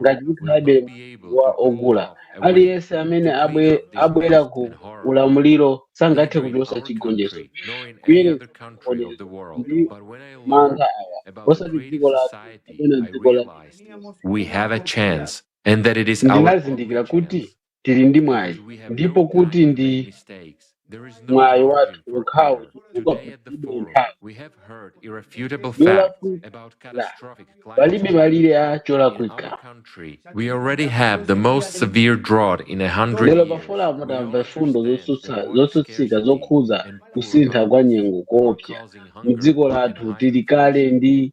ngati tikhalabe wa ogula. Aliyense amene abwera ku ulamuliro sangathe kuchotsa chigonjetso kuyerekeza kupondereza ndi mantha awa, osati dziko lathu kapena dziko la Ndinazindikira kuti tili ndi mwayi ndipo kuti ndi mwayi wathu wokhawo chifukwa palibe nthawi yolakwika palibe malire a cholakwika lero pa foramu tamva mfundo zotsutsa- zotsutsika zokhudza kusintha kwa nyengo koopsa mu dziko lathu tili kale ndi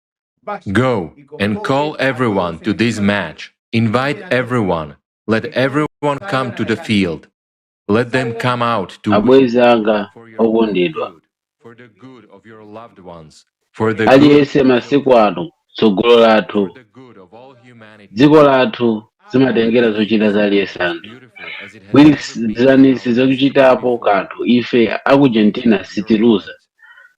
Go and call everyone to this match. Invite everyone. Let everyone come to the field. Let them come out to abwenzi anga okondedwa for the good of your loved ones, for the good aliyense masiku ano tsogolo lathu for the good of all humanity. dziko lathu zimatengera zochita za aliyense anthu Beautiful as it has ever been. gwirizanitsani zochitapo kanthu ife aku argentina sitiluza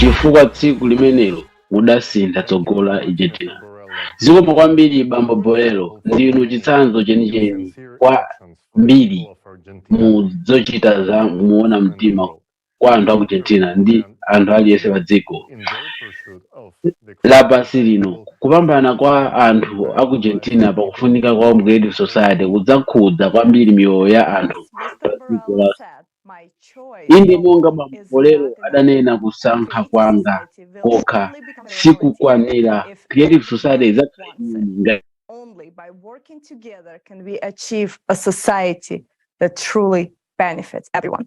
chifukwa tsiku limenelo mudasintha tsogolo la argentina zikomo kwambiri bambo borelo ndinu chitsanzo chenicheni kwambiri mu zochita za muona mtima kwa anthu a ku Argentina ndi anthu aliyense pa dziko lapansi lino. Kupambana kwa anthu a ku Argentina pa kufunika kwa Creative Society kudzakhudza kwambiri miyoyo ya anthu pa dziko la. Inde, monga Bambo Borelo adanena, kusankha kwanga kokha sikukwanira. Creative Society idzakhala imene ngati. Only by working together can we achieve a society that truly benefits everyone.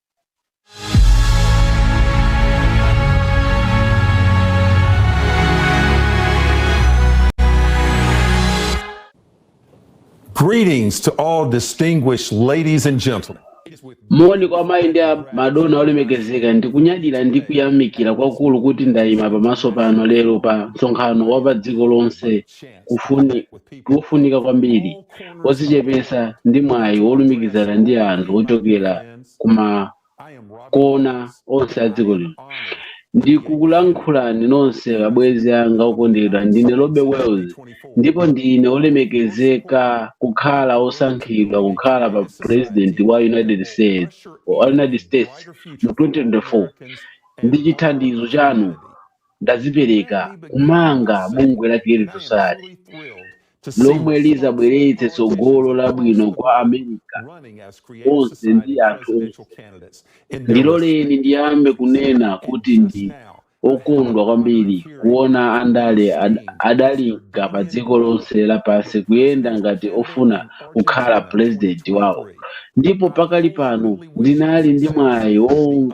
Greetings to all distinguished ladies and gentlemen. moni kwa mayi ndi a- madona olemekezeka ndikunyadira ndi kuyamikira kwakukulu kuti ndayima pamaso panu lero pa msonkhano wa pa dziko lonse kufuni- wofunika kwambiri wodzichepetsa ndi mwayi wolumikizana ndi anthu ochokera kuma kona onse a dziko lino ndikukulankhulani nonse abwenzi anga okondedwa ndine robby wells ndipo ndine olemekezeka kukhala osankhidwa kukhala pa president wa united states mu 2024 ndi chithandizo chanu ndadzipereka kumanga bungwe la Creative Society lomwe lizabweretse tsogolo labwino kwa America onse ndi anthu onse. Ndiloleni ndiyambe kunena kuti ndi okondwa kwambiri kuona andale ad- adalinga pa dziko lonse lapansi kuyenda ngati ofuna kukhala pulezidenti wawo ndipo pakali pano ndinali ndi mwayi wo-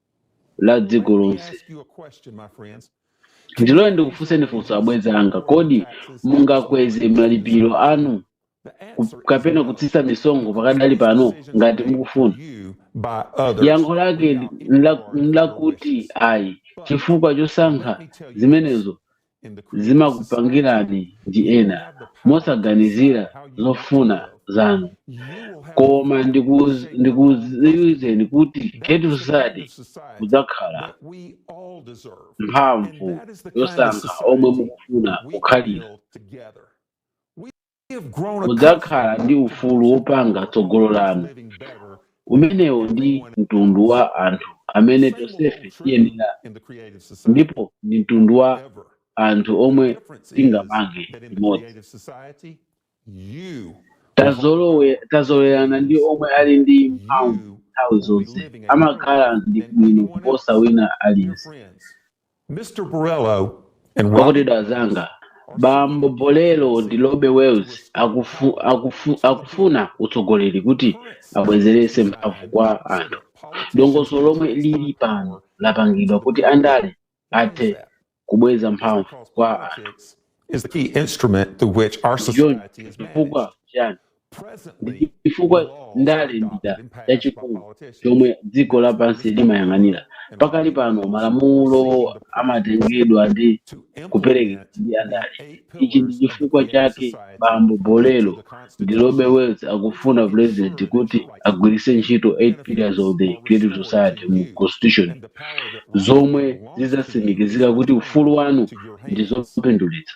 la dziko lonse ndiloleni ndikufunseni funso abwenzi anga kodi mungakweze malipiro anu ku- kapena kutsitsa misonkho pakadali pano ngati mukufuna yankho lake nla- nlakuti ayi chifukwa chosankha zimenezo zimakupangirani ndi ena mosaganizira zofuna zanu koma ndikuz- ndikudziwitseni kuti Creative Society kudzakhala mphamvu yosankha omwe mukufuna kukhalira Mudzakhala ndi ufulu wopanga tsogolo lanu. Umenewo ndi mtundu wa anthu amene tonsefe tiyenera ndipo ndi mtundu wa anthu omwe tingamange limodzi. Tazolowe, tazolowerana ndi omwe ali ndi mphamvu nthawi zonse amakhala ndi bwino kuposa wina aliyense. Mr. Borello and Rob okondedwa anzanga Bambo Borello ndi Robby Wells akufu, akufu, akufuna utsogoleri kuti abwezeretse mphamvu kwa anthu dongosolo lomwe lili pano lapangidwa kuti andale athe kubweza mphamvu kwa anthu is the key instrument through which our John, society is managed. chifukwa chiyani Ndi chifukwa ndale ndi chida chachikulu chomwe dziko lapansi limayang'anira. Pakali pano, malamulo amatengedwa ndi kuperekedwa ndi andale. Ichi ndi chifukwa chake Bambo Borello ndi Robby Wells akufuna upulezidenti kuti agwiritse ntchito 8 Pillars of the Creative Society mu Constitution zomwe zidzatsimikizira kuti ufulu wanu ndi zopindulitsa.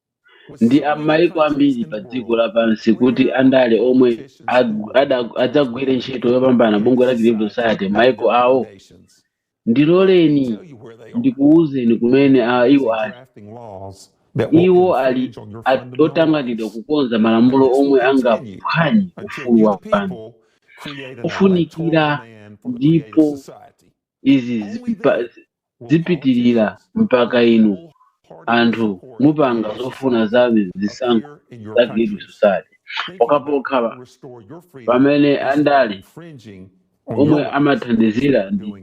ndi a m'mayiko ambiri pa dziko lapansi kuti andale omwe ag- ada- adzagwire ntchito yopambana bungwe la Creative Society m'mayiko awo ndiloleni ndikuwuzeni kumene a iwo ali iwo ali at- otanganidwa kukonza malamulo omwe angaphwanye ufulu wa anthu kufunikira ndipo izi zipa- zipitilira mpaka inu anthu mupanga zofuna za zisankho za Creative Society pokhapokha pamene andale omwe amathandizira ndi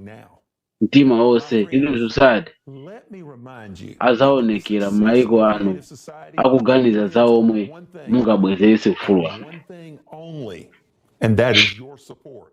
mtima wonse Creative Society azaonekera m'maiko anu akuganiza za omwe mungabwezeretse ufulu wanu And that is your support.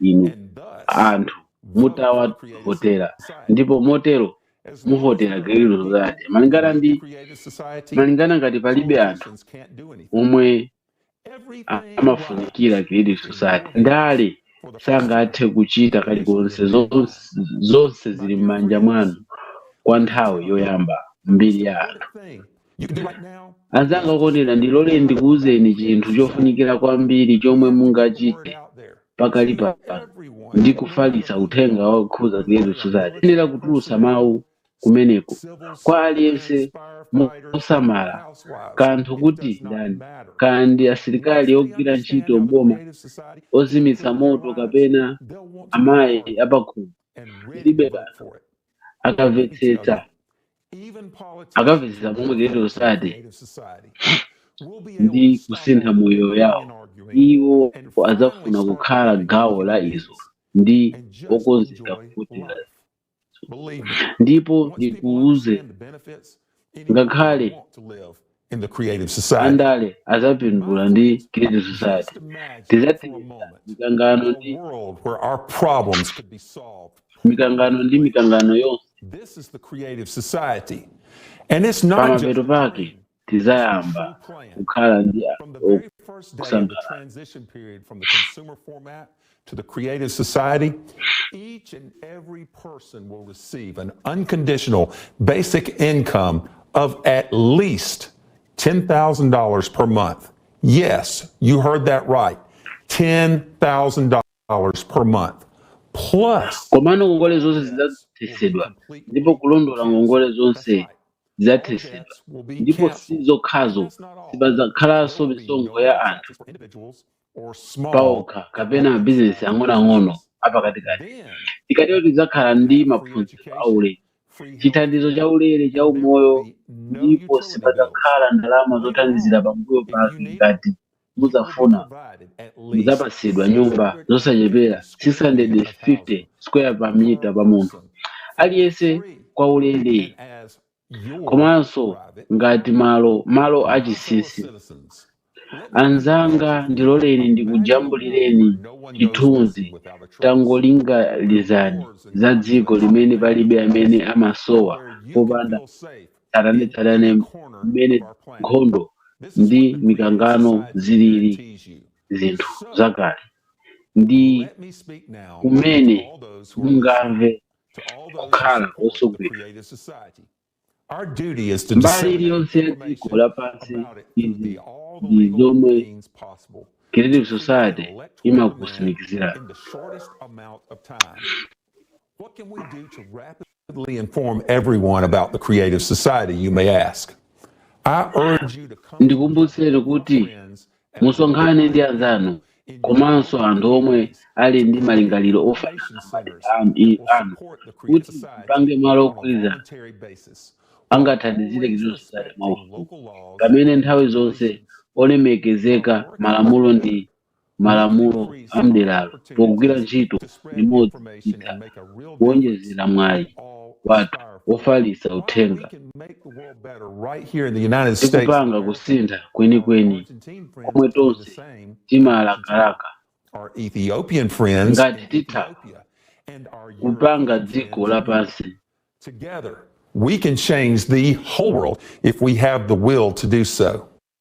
inu anthu mutawavotera ndipo motero muvotera Creative Society malingana ngati palibe anthu omwe amafunikira Creative Society andale sangathe kuchita kalikonse zonse zili m'manja mwanu kwa nthawi yoyamba m'mbiri ya anthu Anzanga okondedwa, ndiloleni ndikuuzeni chinthu chofunikira kwambiri chomwe mungachite pakali pano ndi kufalitsa uthenga wokhuza Creative Society. Muyenera kutulutsa mawu kumeneko kwa aliyense mosasamala kanthu kuti ndi ndani, kaya ndi asilikali, ogwira ntchito m'boma, ozimitsa moto kapena amayi apakhomo, zilibe kanthu, akamvetsetsa. akamvetsetsa momwe Creative Society ndi kusintha moyo yawo iwo adzafuna kukhala gawo la izo ndi okonzeka kuvotera ndipo ndikuuze ngakhale in the Creative Society. andale azapindula ndi Creative Society tizathetsa mikangano ndi world where our problems could be solved. mikangano ndi mikangano yonse This is the Creative Society. And it's not just pamapeto pake tizayamba kukhala ndi from the very first day of the kusangalala transition period from the consumer format To the Creative Society, each and every person will receive an unconditional basic income of at least $10,000 per month. Yes, you heard that right. $10,000 per month. Plus, komano ngongole zonse and zidzathetsedwa complete ndipo relief kulondola from interest. ngongole That's zonse right. zidzathetsedwa Debts will be ndipo si canceled. And zokhazo that's not all. sipadzakhalanso There will be misonkho no ya more anthu taxes for individuals or small paokha kapena business mabizinesi ang'onoang'ono enterprises. apakatikati Then tikatero we tidzakhala can ndi have free maphunziro education, aulere free health chithandizo care. chaulere cha There will umoyo be no ndipo utility bills. sipadzakhala ndalama Later zothandizira on, pambuyo if you pake need it, ngati you will be mudzafuna provided at least mudzapatsidwa nyumba 650 zosachepera square 650 meters of housing square per meter per pa munthu person for aliyense free kwaulere and as komanso ngati malo malo achinsinsi anzanga ndiloleni ndikujambulireni chithunzi tangolingalizani za dziko limene palibe amene amasowa popanda tsatanetsatane mmene nkhondo ndi mikangano zilili zinthu zakale ndi kumene mungamve kukhala osogwera mbali iliyonse ya dziko lapansi izi ndi zomwe creative society imakutsimikizirani What can we do to rapidly inform everyone about the Creative Society, you may ask? I urge you to come ndikumbutseni kuti friends musonkhane ndi anzanu komanso anthu omwe ali ndi malingaliro ofanana ndi anu kuti mupange malo ogwirizana angathandizire Creative Society mwaufulu pamene nthawi zonse kulemekeza malamulo ndi malamulo a mderalo pogwira ntchito limodzi titha kuwonjezera mwayi wathu wofalitsa uthenga ndi kupanga kusintha kwenikweni komwe tonse timalakalaka. Ngati titha kupanga dziko lapansi Together, we can change the whole world if we have the will to do so.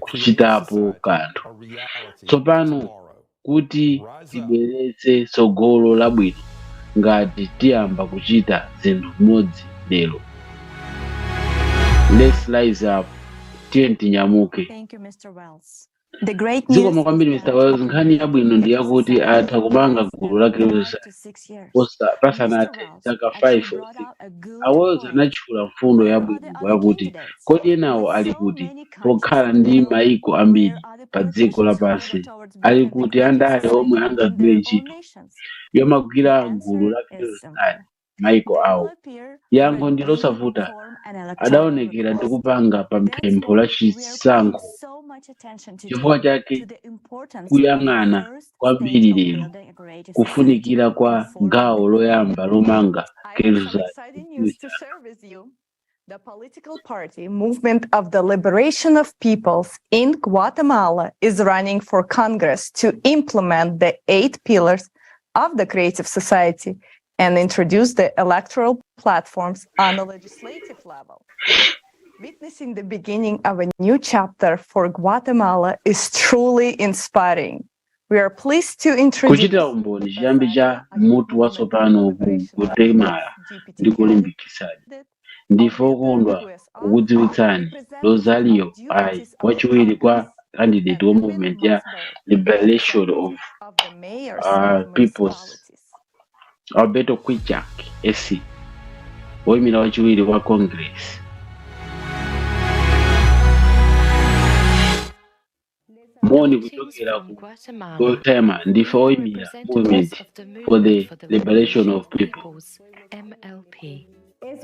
kuchitapo kanthu tsopano kuti tibweretse tsogolo labwino ngati tiyamba kuchita zinthu limodzi lero let's rise up tiyeni tinyamuke Thank you, Mr. Wells. The great news zikomo kwambiri Mr. Wells nkhani yabwino ndi yakuti titha kumanga gulu lake lonse Busa pasanathe zaka 5 or 6, a Wells anatchula mfundo yabwino yakuti, Kodi enawo ali kuti? Pokhala ndi mayiko ambiri padziko lapansi, ali kuti andale omwe angagwire ntchito yomangira gulu la Creative mayiko awo? Yankho ndi losavuta, Adaonekera ndi kupanga pa pempho la chisankho. Chifukwa chake kuyang'ana kwambiri lero kufunikira kwa gawo loyamba lomanga Geluza Institute. The political party Movement of the Liberation of Peoples in Guatemala is running for Congress to implement the eight pillars of the creative society and introduce the electoral platforms on the legislative level. Witnessing the beginning of a new chapter for Guatemala is truly inspiring. We are pleased to introduce kuchitira umboni chiyambi cha mutu watsopano ku guatemala ndi kolimbikitsa ndife okondwa kukudziwitsani rosario ayi wachiwiri kwa kandideti wa movement ya liberation of uh, peoples Alberto Kwijak, SC, woimira wachiwiri wa Congress. Moni kuchokera ku Gotema ndife woimira Movement for the Liberation of People.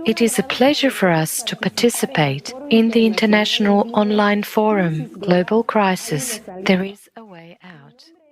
It is a pleasure for us to participate in the international online forum Global Crisis. There is a way out.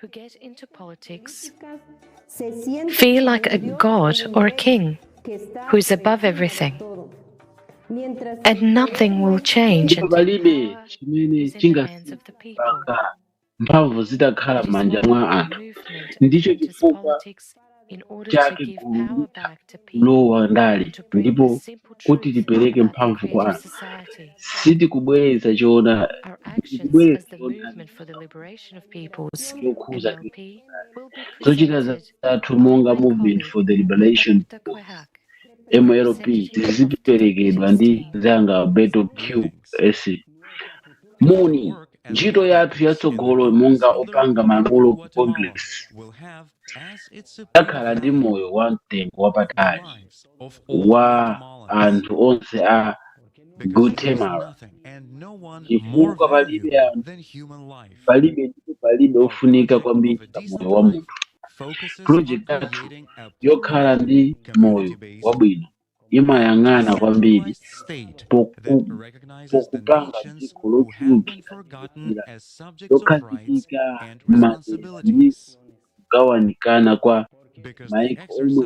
who get into politics feel like a god or a king who is above everything. And nothing will change until palibe power chimene is in the hands of the people. chingasinthe mpaka mphamvu zitakhala m'manja mwa anthu ndicho chifukwa chake gulu litha kulowa ndale ndipo kuti tipereke mphamvu kwa anthu sitikubwereza choona chokhuza zochita zathu monga movement for the liberation mlp ziziperekedwa ndi zanga beto q s moni ntchito yathu yatsogolo monga opanga malamulo ku congress yakhala ndi moyo wa mtengo wapatali wa anthu onse a guatemala chifukwa palibe anthu palibe ndipo palibe ofunika kwambiri pa moyo wa munthu project yathu yokhala ndi moyo wabwino imayang'ana kwambiri pokupanga dziko lochulukira lokhazikika m'madera ndi kugawanikana kwa maiko omwe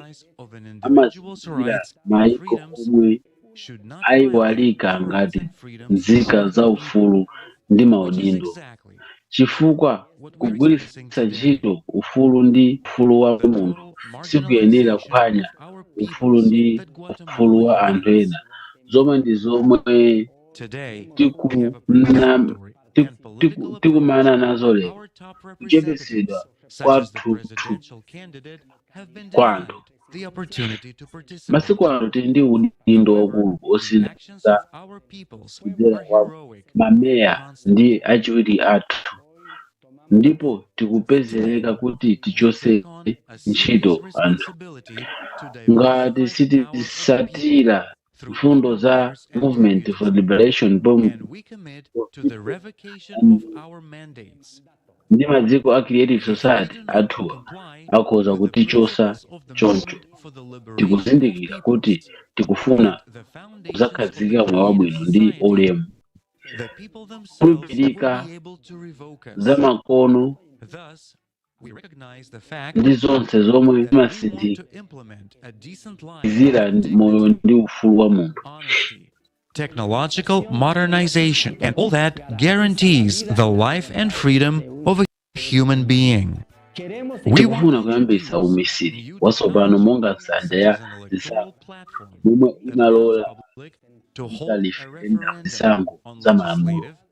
amazindikira maiko omwe aiwalika ngati nzika za ufulu ndi maudindo. chifukwa kugwiritsa ntchito ufulu ndi ufulu wa munthu sikuyenera kuphwanya ufulu ndi ufulu wa anthu ena, zomwe ndi zomwe tikunam- tiku- tiku- tikumana nazo lero, kuchepetsedwa kwathunthu kwa anthu. the opportunity to participate masiku ano tili ndi udindo waukulu in osintha actions of our peoples who kudzera are kwa heroic mameya and constant. ndi achiwiri athu ndipo tikupezereka kuti We tichotse take on a serious ntchito anthu responsibility to diversify ngati the powers of the people. sitisatira mfundo za Movement for Liberation ndi maziko a Creative Society anthuwa akhoza kutichosa choncho tikuzindikira kuti tikufuna kuzakhazika moyo wabwino ndi ulemu kukhulupirika za makono ndi zonse zomwe zimatsimikizira moyo ndi ufulu wa munthu technological modernization and all that guarantees the life and freedom of a human being tikufuna kuyambisa umisiri watsopano monga nsanja ya zisankho momwe imalola za referendum zisankho za malamulo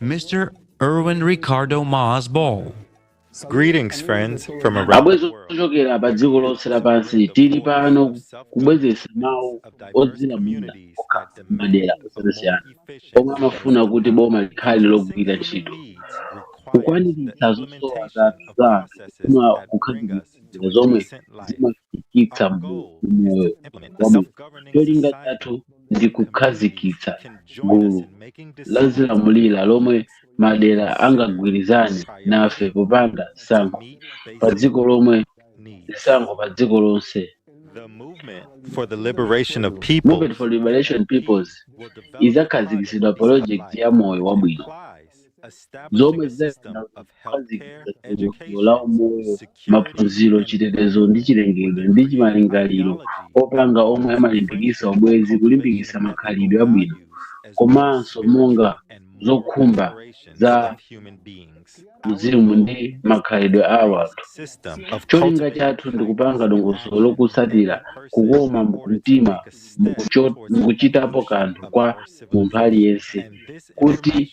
Mr. Erwin Ricardo Mas Ball. Greetings, friends, from around the abwezi world. ochokera pa dziko lonse lapansi tili pano kubwezetsa mawu odzilamulira okha m'madera osiyanasiyana omwe amafuna kuti boma likhale logwira ntchito kukwaniritsa zosowa za za anthu kufuna kukhazikitsa zomwe zima- -fikitsa moyo wabwino. Cholinga chathu ndi kukhazikitsa gulu lolamulira lomwe madera angagwirizane nafe popanga zisankho padziko lomwe zisankho padziko lonse. The movement for the liberation of peoples Movement for Liberation Peoples izakhazikitsidwa project ya moyo wabwino. implies zomwe zizakhazikitsa dongosolo la umoyo maphunziro chitetezo ndi chilengedwe ndi chimalingaliro opanga omwe amalimbikitsa ubwezi kulimbikitsa makhalidwe abwino komanso monga zokhumba za uzimu ndi makhalidwe a wanthu cholinga chathu ndi kupanga dongosolo lokutsatira kukoma mtima mukucho- mukuchitapo kanthu kwa munthu aliyense kuti